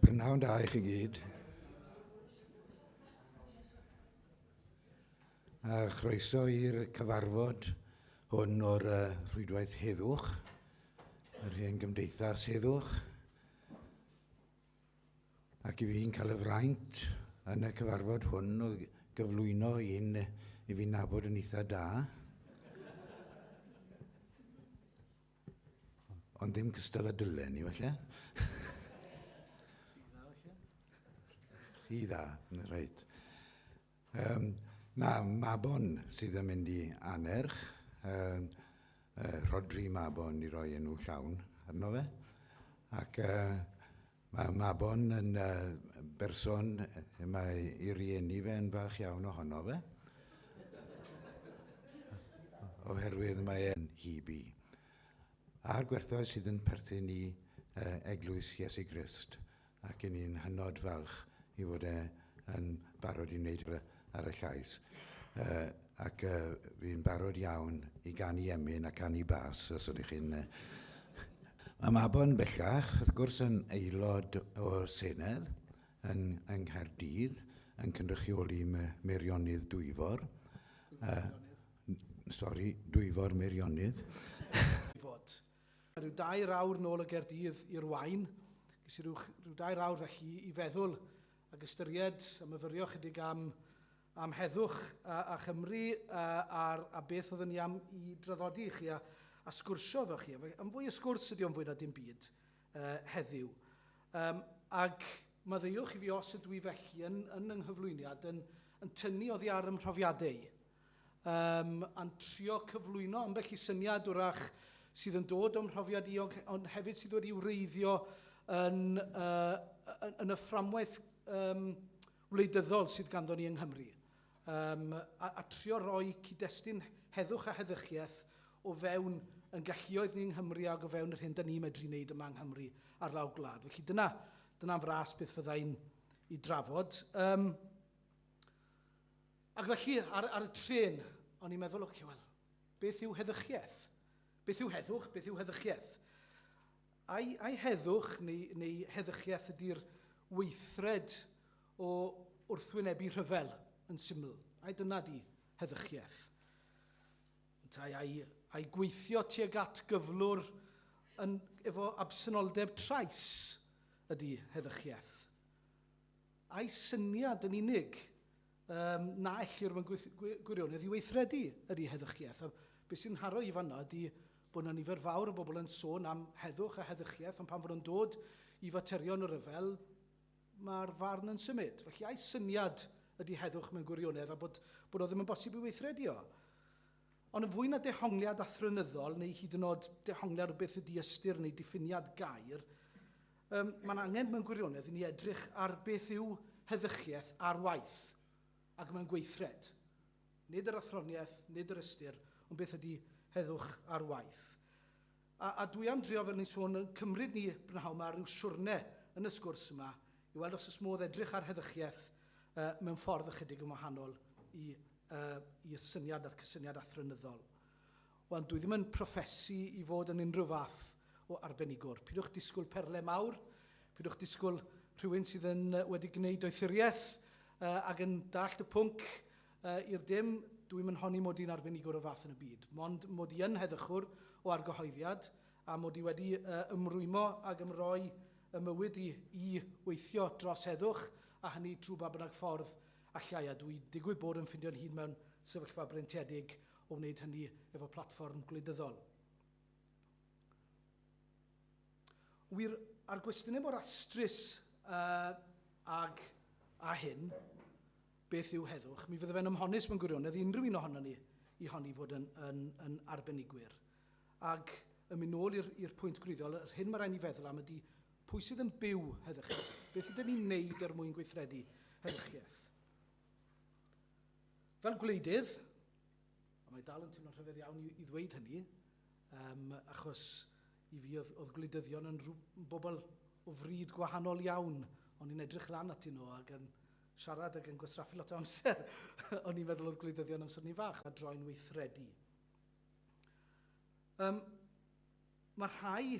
Prynhawn da i chi gyd. A chroeso i'r cyfarfod hwn o'r uh, rhwydwaith heddwch, yr hen gymdeithas heddwch. Ac i fi'n cael y fraint yn y cyfarfod hwn o gyflwyno un i fi'n nabod yn eitha da. Ond ddim cystal a dylen ni, falle. Rhy dda, rhaid. Um, mae Mabon sydd yn mynd i anerch, um, uh, Rodri Mabon i roi enw llawn arno fe. Ac uh, mae Mabon yn uh, berson, mae i rieni fe yn falch iawn ohono fe. Oherwydd mae e'n hibi. A'r gwerthoedd sydd yn perthyn i uh, Eglwys Iesu Grist. ac 'yn ni'n hynod falch ei fod e yn barod i wneud rhywbeth ar y llais. Yy ac yy fi'n barod iawn i ganu emyn a canu bas os ydych chi'n... Yy Mae Mabon bellach, wrth gwrs, yn aelod o Senedd yn yng Nghaerdydd, yn cynrychioli Me- Meirionnydd Dwyfor. Yy n- sori, Dwyfor Meirionnydd. Rhyw dair awr nôl o Gaerdydd i'r Waun. Ges i rhyw, rhyw dair awr felly i feddwl ac ystyried a myfyrio chydig am, am heddwch a, a Chymru a, a, a beth oedden ni am i draddodi i chi a, a sgwrsio efo chi. Am fwy o sgwrs ydy o'n fwy na dim byd uh, heddiw. Um, ac maddeuwch i fi os ydw i felly yn, yn yng nghyflwyniad yn, yn tynnu oddi ar ymhrofiadau. um, a'n trio cyflwyno ambell i syniad wrach sydd yn dod o'm mhrofiad i, ond hefyd sydd wedi wreiddio yn, uh, yn, yn y fframwaith um, wleidyddol sydd ganddo ni yng Nghymru. Um, a, a trio roi cyd-destun heddwch a heddychiaeth o fewn yn galluoedd ni yng Nghymru ac o fewn yr hyn da ni'n medru wneud yma yng Nghymru ar lawr gwlad. Felly dyna, dyna fras beth fyddai'n i drafod. Um, Ac felly, ar, ar y trên, o'n i'n meddwl, ocê, wel, beth yw heddychiaeth? Beth yw heddwch? Beth yw heddychiaeth? Ai, ai heddwch neu, neu heddychiaeth ydy'r weithred o wrthwynebu rhyfel yn syml? Ai dyna di heddychiaeth? Yntau, ai, ai gweithio tuag at gyflwr yn, efo absenoldeb trais ydy heddychiaeth? Ai syniad yn unig Yym, na ellir, mae'n gweith- gwi- gwirionedd i weithredu yn ei heddychiaeth. A be sy'n nharo i fan'na ydi bod 'na nifer fawr o bobl yn sôn am heddwch a heddychiaeth, ond pan fo nhw'n dod i faterion y rhyfel, mae'r farn yn symud. Felly, a'i syniad ydi heddwch mewn gwirionedd a bod bod o ddim yn bosib i weithredu o. Ond yn fwy na dehongliad athronyddol, neu hyd yn oed dehongliad o beth ydi ystyr neu diffiniad gair, Yym, mae'n angen mewn gwirionedd i ni edrych ar beth yw heddychiaeth ar waith ac mewn gweithred. Nid yr athroniaeth, nid yr ystyr, ond beth ydy heddwch ar waith. A, a dwi am drio, fel ni'n sôn, yn cymryd ni brynhawn yma rhyw siwrne yn y sgwrs yma i weld os ys modd edrych ar heddychiaeth uh, mewn ffordd ychydig yn wahanol i, uh, i'r syniad a'r cysyniad athronyddol. Wel, dwi ddim yn proffesu i fod yn unrhyw fath o arbenigwr. Pidwch disgwyl perle mawr, pidwch disgwyl rhywun sydd yn wedi gwneud doethuriaeth ac yn dallt y pwnc i'r dim. Dwi'm yn honni mod i'n arbenigwr o'r fath yn y byd, mond mod i yn heddychwr o argyhoeddiad a mod i wedi ymrwymo ac ymroi ym mywyd i i weithio dros heddwch, a hynny trwy ba bynnag ffordd allai, a dwi digwydd bod yn ffindio'n hun mewn sefyllfa breintiedig o wneud hynny efo platfform gwleidyddol. Wir, a'r gwestiynau mor astrus ag a hyn, beth yw heddwch, mi fydde fe'n ymhonus mewn gwirionedd i unrhyw un ohonon ni i honni fod yn arbenigwyr. Ac yn mynd nôl i'r pwynt gwreiddiol, yr hyn mae rhaid ni feddwl am ydy pwy sydd yn byw heddychiaeth? Beth ydyn ni'n wneud er mwyn gweithredu heddychiaeth? Fel gwleidydd, a mae dal yn teimlo'n rhyfedd iawn i ddweud hynny, yym, achos i fi oedd, oedd gwleidyddion yn rhyw bobl o fryd gwahanol iawn, o'n i'n edrych lan atyn nhw ac yn siarad ac yn gwastraffu lot o amser, o'n i'n meddwl oedd gwleidyddion amser ni fach, a droi'n weithredu. Um, mae rhai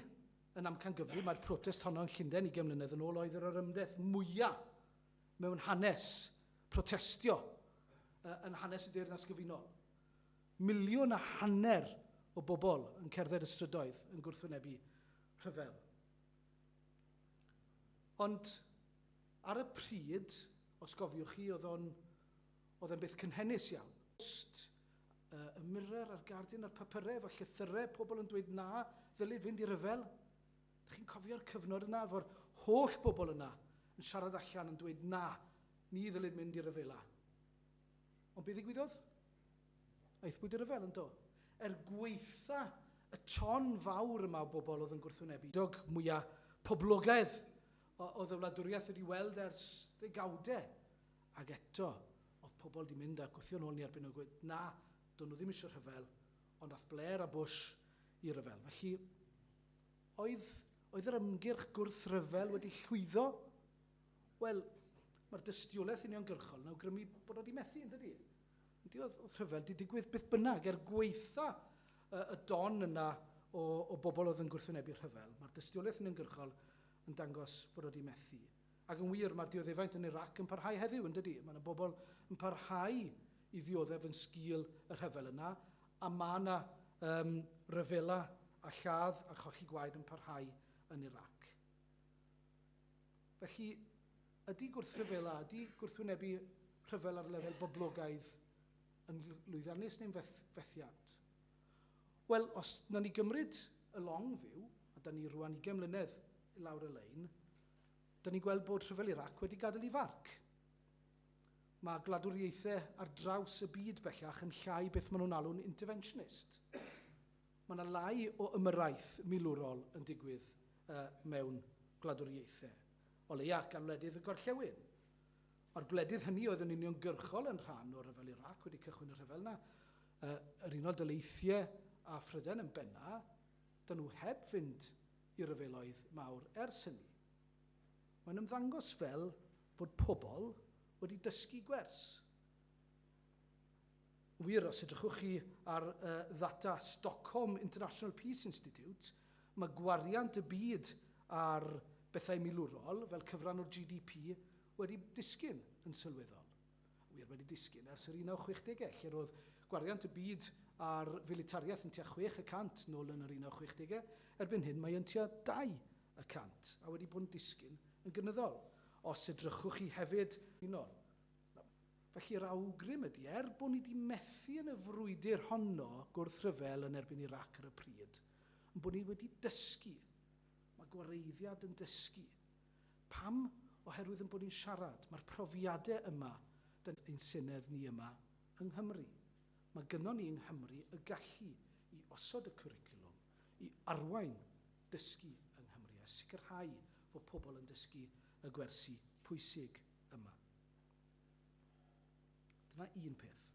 yn amcangyfrif, mae'r protest honno yn Llundain i mlynedd yn ôl oedd yr orymdeth mwyaf mewn hanes protestio yn hanes y Deyrnas Gyfunol. Miliwn a hanner o bobl yn cerdded y strydoedd yn gwrthwynebu rhyfel. Ond ar y pryd, os gofiwch chi, oedd o'n oedd e'n beth cynhenus iawn. Post, uh, y Mirror a'r Guardian a'r papyrau efo llythyrau pobl yn dweud na, ddylid fynd i ryfel. Dych chi'n cofio'r cyfnod yna efo'r holl bobl yna yn siarad allan yn dweud na, ni ddylid mynd i ryfela. Ond be ddigwyddodd? Aethpwyd i ryfel, yndo? Er gweitha y ton fawr yma o bobl oedd yn gwrthwynebu, dog mwya poblogaidd oedd y wladwriaeth wedi weld ers ddegawde, ac eto oedd pobl wedi mynd a gwthio'n ôl ni erbyn nhw gweud na, do'n nhw ddim eisiau rhyfel, Ond aeth Blair a Bush i ryfel. Felly, oedd, oedd yr ymgyrch gwrthryfel wedi llwyddo? Wel, mae'r dystiolaeth uniongyrchol yn awgrymu bod o wedi methu, yn dydy? Yndi, oedd, oedd rhyfel wedi digwydd beth bynnag, er gweitha y don yna o, o bobl oedd yn gwrthwynebu'r rhyfel. Mae'r dystiolaeth uniongyrchol yn dangos bod o wedi methu. Ac yn wir, mae'r dioddefaint yn Irac yn parhau heddiw, yn dydy. Mae yna bobl yn parhau i ddioddef yn sgil y rhyfel yna, a mae yna um, ryfela a lladd a cholli gwaed yn parhau yn Irac. Felly, ydy gwrthryfela, ydy gwrthwynebu rhyfel ar lefel boblogaidd yn lwyddiannus neu'n feth, fethiant? Wel, os na ni gymryd y long fyw, a da ni rwan i gemlynedd lawr y lein, 'da ni'n gweld bod rhyfel Irac wedi gadael ei farc. Mae gwladwriaethau ar draws y byd bellach yn llai beth maen nhw'n alw'n 'interventionist'. Mae yna lai o ymyrraeth milwrol yn digwydd mewn gwladwriaethau, o leia' gan wledydd y gorllewin. Mae'r gwledydd hynny oedd yn uniongyrchol yn rhan o ryfel Irac wedi cychwyn y rhyfel 'na, yr Unol Daleithiau a Phrydain yn benna', 'da nhw heb fynd i ryfeloedd mawr ers hynny. Mae'n ymddangos fel fod pobl wedi dysgu gwers. Yn wir, os edrychwch chi ar ddata Stockholm International Peace Institute, mae gwariant y byd ar bethau milwrol, fel cyfran o'r GDP, wedi disgyn yn sylweddol. wir wedi disgyn ers yr 1960au, lle roedd gwariant y byd ar filitariaeth yn tua chwech y cant nol yn yr 1960au, erbyn hyn mae yn tua dau y cant, a wedi bod yn disgyn yn gynyddol. Os edrychwch chi hefyd. Unol. Felly yr awgrym ydy, er bod ni wedi methu yn y frwydr honno gwrthryfel yn erbyn Irac ar y pryd, ein bod ni wedi dysgu, mae gwareiddiad yn dysgu, Pam? Oherwydd ein bod ni'n siarad, mae'r profiadau yma, 'da ni, ein Senedd ni yma yng Nghymru, mae gynnon ni yng Nghymru y gallu i osod y cwricwlwm, i arwain dysgu yng Nghymru a sicrhau fod pobl yn dysgu y gwersi pwysig yma. Dyna un peth.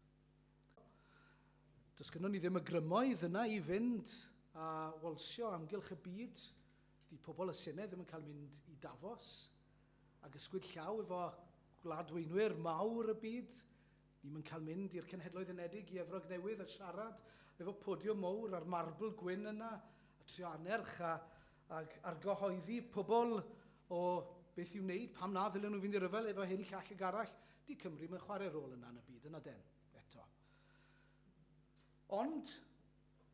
Does gynnon ni ddim y grymoedd yna i fynd a walsio amgylch y byd 'di pobl y Senedd ddim yn cael mynd i Davos, ag ysgwyd llaw efo gwladweinwyr mawr y byd, ni'm yn cael mynd i'r Cenhedloedd Unedig, i Efrog Newydd a siarad efo podiwm mowr a'r marbl gwyn yna, a trio annerch a ag argyhoeddi pobl o beth i'w wneud, pam na ddylen nhw fynd i ryfel efo hyn, llall ag arall, 'di Cymru ddim yn chwarae rôl yna yn y byd, yna den, eto. Ond,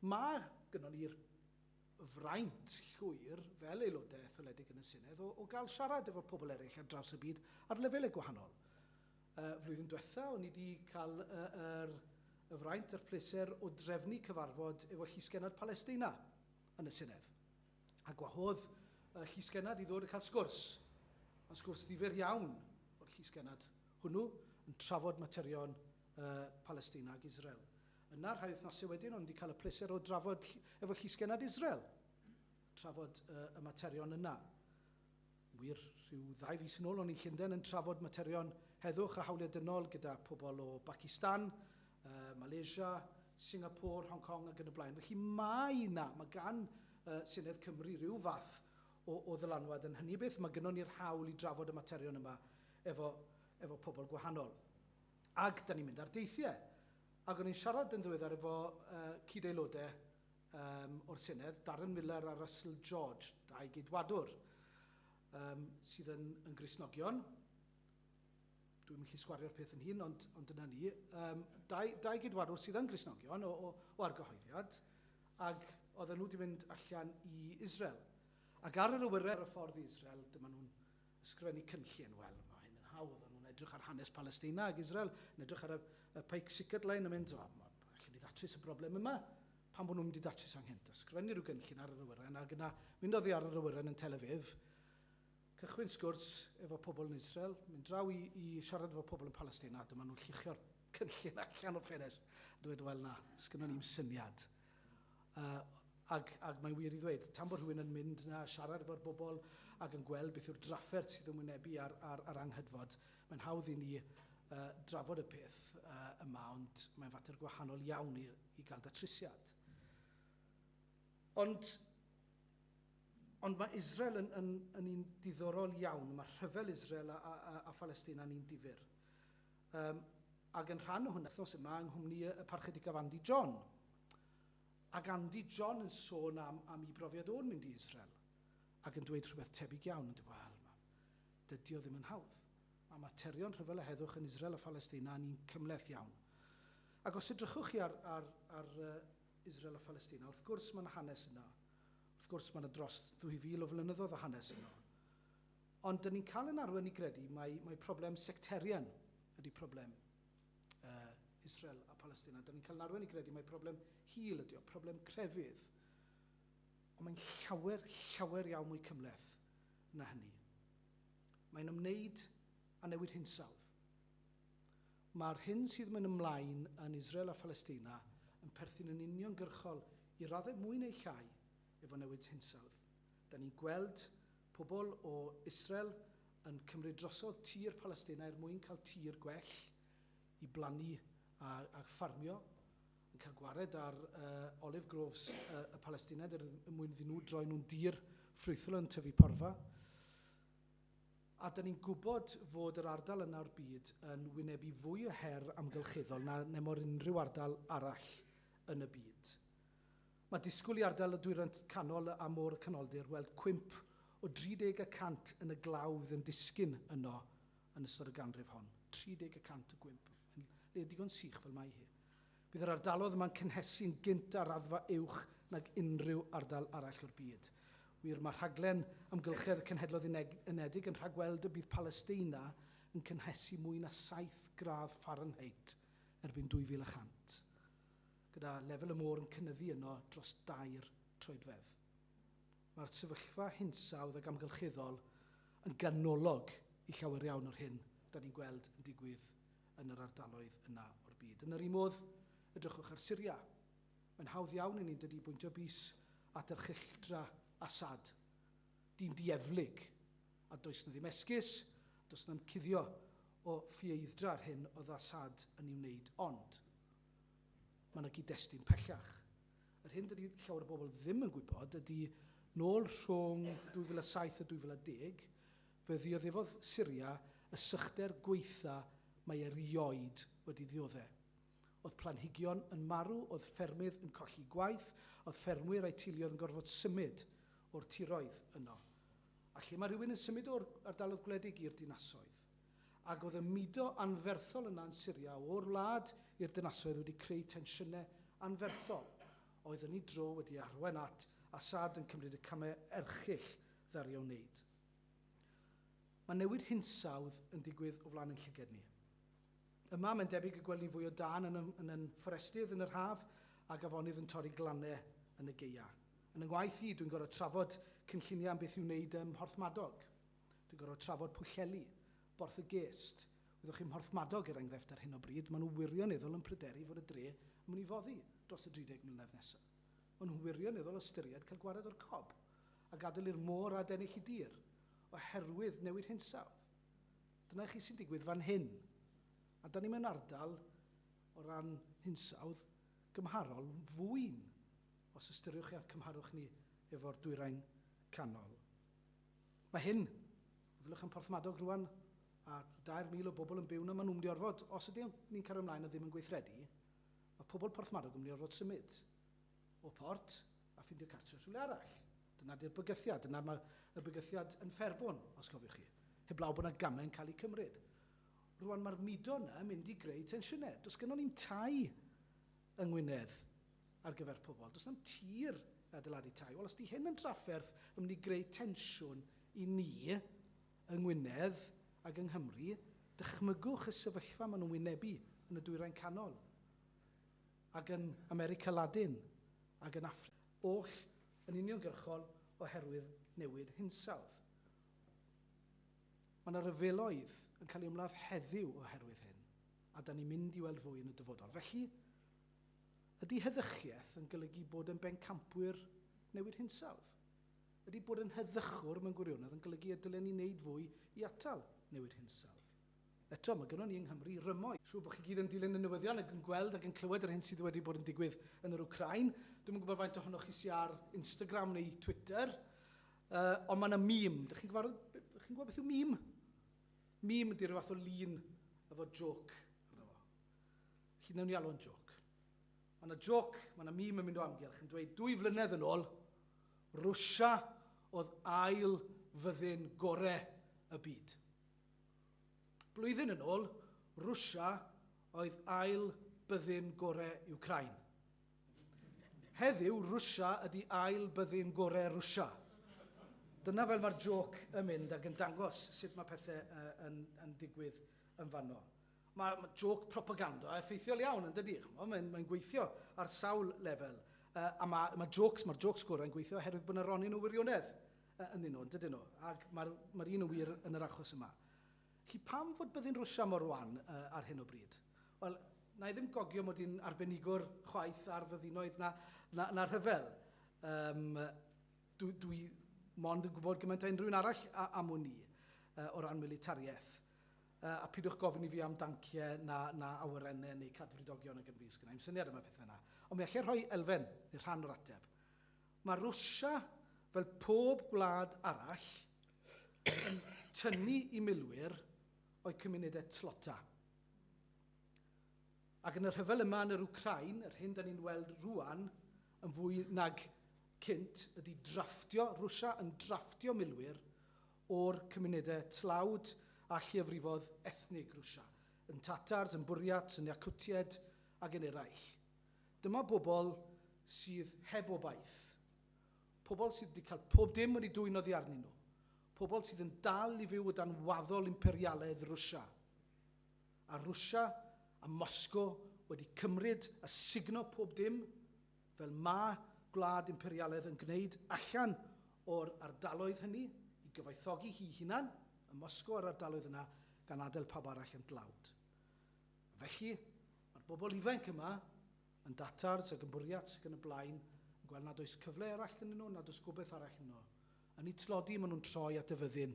mae gynnon ni'r fraint llwyr fel aelodau etholedig yn y Senedd o o gael siarad efo pobl eraill ar draws y byd ar lefelau gwahanol. Y flwyddyn diwetha' o'n i 'di cael y yr y fraint a'r pleser o drefnu cyfarfod efo Llysgennad Palesteina yn y Senedd. A gwahodd y Llysgennad i ddod a cael sgwrs. Ma'n sgwrs ddifyr iawn o'r Llysgennad hwnnw yn trafod materion yy Palesteina ag Israel. Yna, rhai wythnosau wedyn, o'n i wedi cael y pleser o drafod efo Llysgennad Israel, trafod y, y materion yna. Wir, rhyw ddau fis yn ôl o'n i'n Llundain yn trafod materion heddwch a hawliau dynol gyda pobl o Bacistan, uh, Malaysia, Singapore, Hong Kong ac yn y blaen. Felly mae yna, mae gan uh, Senedd Cymru rhyw fath o, o ddylanwad yn hynny beth. Mae gynnon ni'r hawl i drafod y materion yma efo, efo pobl gwahanol. Ac da ni'n mynd ar deithiau. Ac o'n i'n siarad yn ddiweddar efo cyd-aelodau o'r Senedd, Darren Millar a Russell George, dau Geidwadwr sydd yn Gristnogion. Dwi'm yn gallu sgwario'r peth yn hun, ond dyna ni. Dau Geidwadwr sydd yn Gristnogion o argyhoeddiad, ac oedden nhw wedi mynd allan i Israel. Ac ar yr awyren ar y ffordd i Israel, dyma nhw'n Ysgrifennu cynllun, wel, mae hyn yn hawdd, o'n nhw'n edrych ar hanes Palestina ac Israel, yn edrych ar y Pike Sickert Line a mynd, o, ma, allwn ni ddatrys y broblem yma, pam bod nhw'n mynd i datrys anghynt? Ysgrifennu rhyw gynllun ar yr awyren ac yna mynd oddi ar yr awyren yn Tel Aviv, cychwyn sgwrs efo pobl yn Israel, mynd draw i, i siarad efo pobl yn Palestina, dyma nhw'n lluchio'r cynllun allan o'r ffenest, dweud, wel na, sgynnon ni'm syniad. Ac, ac mae'n wir i ddweud, tan bod rhywun yn mynd 'na a siarad efo'r bobl ac yn gweld beth yw'r drafferth sydd yn wynebu ar, ar, ar anghydfod, mae'n hawdd i ni uh, drafod y peth uh, yma, ond mae'n fater gwahanol iawn i, i gael datrysiad. Ond, ond mae Israel yn, yn, yn un diddorol iawn. Mae rhyfel Israel a, a, a Phalistina yn un difyr. Yym, ac yn rhan o hwnna, wythnos yma yng nghwmni y Parchedicaf Andy John. Ac Andy John yn sôn am, am i brofiad o'n mynd i Israel, ac yn dweud rhywbeth tebyg iawn, yn dweud, wel, ma, dydy o ddim yn hawdd. Mae materion rhyfel a heddwch yn Israel a Phalestina yn un cymhleth iawn. Ac os edrychwch chi ar, ar, ar uh, Israel a Phalestina, wrth gwrs mae yna hanes yna. Wrth gwrs mae yna dros 2,000 o flynyddoedd o hanes yna. Ond dan ni'n cael ein arwain i gredu mai mai problem sectarian ydy problem yy Israel a Palestina. Dan ni'n cael ein arwain i gredu mai problem hil ydy o, problem crefydd. Ond mae'n llawer, llawer iawn mwy cymhleth na hynny. Mae'n ymwneud â newid hinsawdd. Mae'r hyn sydd mynd ymlaen yn Israel a Phalestina yn perthyn yn uniongyrchol, i raddau mwy neu llai, efo newid hinsawdd. Da ni'n gweld pobl o Israel yn cymryd drosodd tir Palestina er mwyn cael tir gwell i blannu a a ffarmio, yn cael gwared ar uh, olive groves uh, y Palestined er mwyn iddyn nhw droi nhw'n dir ffrwythlon yn tyfu porfa. A da ni'n gwybod fod yr ardal yna o'r byd yn wynebu fwy o her amgylcheddol na nemor unrhyw ardal arall yn y byd. Mae disgwyl i ardal y Dwyrain Canol a Môr y Canoldir weld cwymp o 30 y cant yn y glaw fydd yn disgyn yno yn ystod y ganrif hon. 30 y cant o gwymp. Mae'n le digon sych fel mae hi. Bydd yr ardalodd yma'n cynhesu'n gynt ar raddfa uwch nag unrhyw ardal arall o'r byd. Wir, mae rhaglen amgylchedd y Cenhedloedd Uneg Unedig yn rhagweld y bydd Palesteina yn cynhesu mwy na 7 gradd Fahrenheit erbyn 2100. gyda lefel y môr yn cynyddu yno dros dair troedfedd. Mae'r sefyllfa hinsawdd ac amgylcheddol yn ganolog i llawer iawn o'r hyn da ni'n gweld yn digwydd yn yr ardaloedd yna o'r byd. Yn yr un modd, edrychwch ar Syria. Mae'n hawdd iawn i ni, yn dydi, bwyntio bys at erchylltra Assad, dyn dieflig, a does 'na ddim esgus, does 'na'm cuddio o ffieithdra yr hyn oedd Assad yn ei wneud, ond Mae yna gyd-destun pellach. Yr hyn dydy llawer o bobl ddim yn gwybod ydy, nôl rhwng 2007 a 2010, fe ddioddefodd Syria y sychder gwaetha mae erioed wedi ddiodde'. O'dd planhigion yn marw, o'dd ffermydd yn colli gwaith, o'dd ffermwyr a'u teuluoedd yn gorfod symud o'r tiroedd yno. A lle mae rhywun yn symud o'r ardaloedd gwledig i'r dinasoedd? Ac oedd y mudo anferthol yna yn Syria o'r wlad i'r dynasoedd wedi creu tensiynau anferthol, oedd yn ei dro wedi arwain at Assad yn cymryd y camau erchyll ddaru o wneud. Mae newid hinsawdd yn digwydd o flaen ein llyged ni. Yma, mae'n debyg y gwelwn ni fwy o dân yn y, yn y fforestydd yn yr haf, ac afonydd yn torri glannau yn y gaeaf. Yn yng ngwaith i, dwi'n gorfod trafod cynlluniau am beth i'w wneud ym Mhorthmadog. Dwi'n gorfod trafod Pwllheli, Borth y Gest. Wyddwch chi, Mhorthmadog er enghraifft ar hyn o bryd, maen nhw wirioneddol yn pryderu fod y dre yn mynd i foddi dros y 30 mlynedd nesa'. Maen nhw'n wirioneddol ystyried cael gwared o'r cob, a gadael i'r môr adennill y dir, oherwydd newid hinsawdd. Dyna i chi sy'n digwydd fan hyn. A 'dan ni mewn ardal, o ran hinsawdd, gymharol fwyn, os ystyriwch chi a'n cymharwch ni efo'r Dwyrain Canol. Mae hyn, meddyliwch yn Porthmadog rŵan, a dair mil o bobl yn byw yna, maen nhw'n mynd i orfod, os ydyn ni'n cario ymlaen a ddim yn gweithredu, mae pobl Porthmadog yn mynd i orfod symud o Port a ffindio cartre rhywle arall. Dyna di'r bygythiad, dyna mae y bygythiad yn Fferbwn, os cofiwch chi, heblaw bod yna gamau yn cael eu cymryd. Rŵan mae'r mudo yna yn mynd i greu tensiynau. Does gynnon ni'm tai yng Ngwynedd ar gyfer pobl. Does na'm tir i adeiladu tai. Wel, os 'di hyn yn drafferth yn mynd i greu tensiwn i ni yng Ngwynedd ac yng Nghymru, dychmygwch y sefyllfa maen nhw'n wynebu yn y Dwyrain Canol ac yn America Ladin ac yn Affrica oll yn uniongyrchol oherwydd newid hinsawdd. Mae 'na ryfeloedd yn cael eu ymladd heddiw oherwydd hyn. a 'da ni'n mynd i weld fwy yn y dyfodol. Felly, ydy heddychiaeth yn golygu bod yn bencampwyr newid hinsawdd? Ydy bod yn heddychwr mewn gwirionedd yn golygu y dylen ni wneud fwy i atal newid hinsawdd? Eto, mae gynnon ni yng Nghymru rymoedd. Siŵr bod chi gyd yn dilyn y newyddion ac yn gweld ac yn clywed yr hyn sydd wedi bod yn digwydd yn yr Wcráin. Dwi'm yn gwybod faint ohonoch chi sy ar Instagram neu Twitter, ond mae 'na meme. Dych chi'n gyfarwydd, chi'n gwybod beth yw meme? Meme ydy rhyw fath o lun efo jôc arno fo. Felly newn ni alw o'n jôc. Ma' 'na jôc, ma' 'na meme yn mynd o amgylch yn dweud dwy flynedd yn ôl, Rwsia oedd ail fyddin gore y byd. Blwyddyn yn ôl, Rwsia oedd ail byddin gore Wcráin. Heddiw, Rwsia ydi ail byddin gore Rwsia. Dyna fel mae'r jôc yn mynd ac yn dangos sut mae pethe yn yn digwydd yn fanno. Mae ma jôc propaganda effeithiol iawn yn dydi? Ch'mo' mae'n mae'n gweithio ar sawl lefel. Uh, a mae ma jôcs, mae'r jôcs gorau'n gweithio oherwydd bod 'na ronyn o wirionedd uh, ynddyn nhw, yn dydyn nhw? Ac mae'r mae'r un yn wir yn yr achos yma. Felly pam fod byddin Rwsia mor wan ar hyn o bryd? Wel, na i ddim gogio mod i'n arbenigwr chwaith ar fyddinoedd na, na, na rhyfel. Um, dwi, dwi mond yn gwybod gymaint a unrhyw un arall am hwn i, uh, o ran militariaeth. Uh, a pidwch gofyn i fi am danciau na, na awyrennau neu cadfridogion ag yn fi, sgynnau i'n syniad am y pethau yna. Ond mi allai rhoi elfen, neu rhan o'r ateb. Mae Rwsia, fel pob gwlad arall, yn tynnu i milwyr o'u cymunedau tlota. Ac yn y rhyfel yma yn yr Wcrain, yr hyn da ni'n weld rwan yn fwy nag cynt ydy drafftio, Rwsia yn drafftio milwyr o'r cymunedau tlawd a lleiafrifodd ethnig Rwsia, yn Tatars, yn Bwriats, yn Iacwtiaid ac yn eraill. Dyma bobl sydd heb obaith. Pobl sydd wedi cael pob dim wedi dwyn oddi arnyn nhw. Pobl sydd yn dal i fyw o dan waddol imperialaidd Rwsia. A Rwsia a Moscow wedi cymryd a sugno pob dim, fel ma' gwlad imperialaidd yn gwneud, allan o'r ardaloedd hynny, i gyfoethogi hi'i hunan, ym Moscow a'r ardaloedd yna, gan adael pawb arall yn dlawd. A felly, mae'r bobl ifainc yma yn datards ac yn bwriats ac yn y blaen, yn gweld nad oes cyfle arall gynnyn nhw, nad oes gobaith arall ynddo. Yn eu tlodi, maen nhw'n troi at y fyddin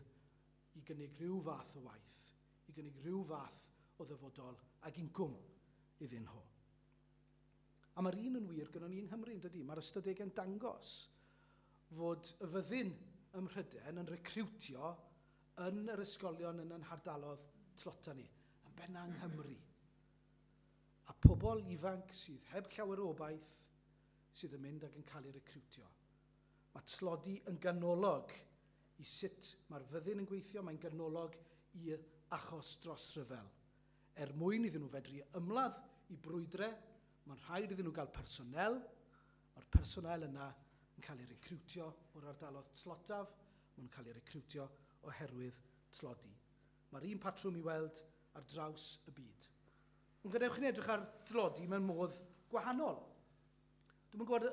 i gynnig rhyw fath o waith, i gynnig rhyw fath o ddyfodol ac incwm iddyn nhw. A mae'r un yn wir gynnon ni yng Nghymru, yn dydy? Mae'r ystadegau'n dangos fod y fyddin ym Mhrydain yn recriwtio yn yr ysgolion yn yn hardalodd tlota ni, yn benna yng Nghymru. a pobl ifanc sydd heb llawer o obaith sydd yn mynd ac yn cael eu recriwtio. Mae tlodi yn ganolog i sut mae'r fyddin yn gweithio, mae'n ganolog i achos dros ryfel. Er mwyn iddyn nhw fedru ymladd i brwydre, mae'n rhaid iddyn nhw gael personél, mae'r personél yna yn cael eu recriwtio o'r ardalodd tlotaf, maen nhw'n cael eu recriwtio oherwydd tlodi. Mae'r un patrwm i weld ar draws y byd. Ond gadewch i ni edrych ar dlodi mewn modd gwahanol. Dwi'm yn gwybod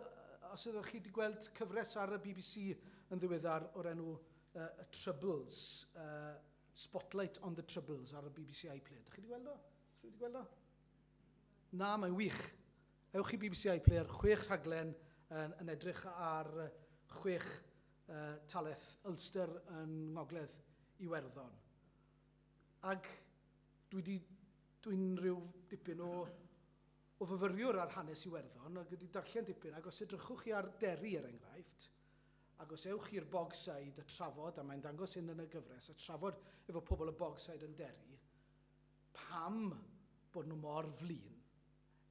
os ydych chi wedi gweld cyfres ar y bbc yn ddiweddar o'r enw uh, y Troubles, uh, Spotlight on the Troubles ar y bbc iPlayer. Ydych chi wedi gweld o? Ydych chi wedi gweld o? Na, mae'n wych. Ewch i bbc iPlayer, chwech rhaglen yn, yn edrych ar chwech y talaith Ulster yn Ngogledd Iwerddon. Ac dwi 'di... dwi'n rhyw dipyn o o fyfyriwr ar hanes Iwerddon ac wedi darllen dipyn ac os edrychwch chi ar Derry er enghraifft ac os ewch chi i'r Bogside a trafod, a mae'n dangos hyn yn y gyfres, a trafod efo pobl y Bogside yn Derry pam bod nhw mor flin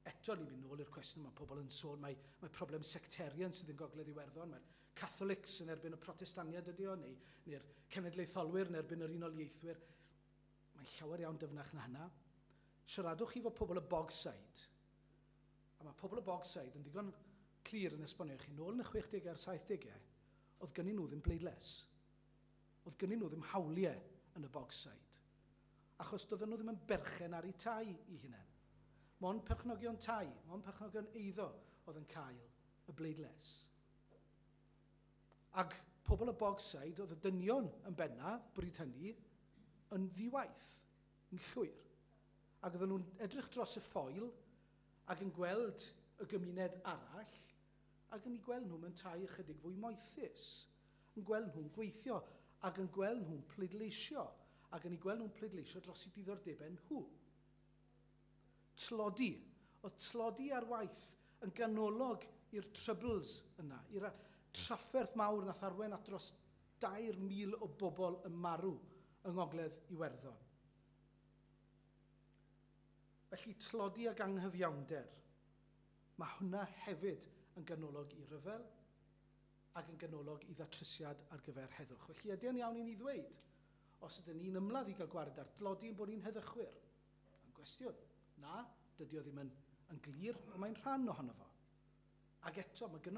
Eto, ni'n mynd nôl i'r cwestiwn, mae pobl yn sôn mai mai problem sectarian sydd yn Gogledd Iwerddon, mae'r Catholics yn erbyn y Protestaniad ydy o, neu neu'r cenedlaetholwyr yn erbyn yr Unol Ieithwyr. Mae'n llawer iawn dyfnach na hynna. Siaradwch chi fo pobl y Bogside, a mae pobl y Bogside yn ddigon clir yn esbonio i chi, nôl yn y 60au a'r 70au, oedd gynnyn nhw ddim bleidlais. Oedd gynnyn nhw ddim hawliau yn y Bogside. achos doedden nhw ddim yn berchen ar eu tai i hunain. Mond perchnogion tai, mond perchnogion eiddo oedd yn cael y bleidlais. Ac pobl y Bogside, oedd y dynion yn benna, bryd hynny, yn ddiwaith, yn llwyr. Ac oedden nhw'n edrych dros y ffoil ac yn gweld y gymuned arall ac yn eu gweld nhw'n yntau ychydig fwy moethus, yn gweld nhw'n gweithio, ac yn gweld nhw'n pleidleisio, ac yn eu gweld nhw'n pleidleisio dros eu diddordebau nhw. Tlodi. Oedd tlodi ar waith yn ganolog i'r Troubles yna, i'r trafferth mawr nath arwain at dros 2,000 o bobl yn marw yng Ngogledd Iwerddon. Felly, tlodi ag anghyfiawnder. Mae hwnna hefyd yn ganolog i ryfel ac yn ganolog i ddatrysiad ar gyfer heddwch. Felly, ydy o'n iawn i ni ddweud, os ydyn ni'n ymladd i gael gwared ar dlodi ein bod ni'n heddychwyr? Mae'n gwestiwn. Na, dydy o ddim yn yn glir, ond mae'n rhan ohono fo. Ac eto, mae gynnon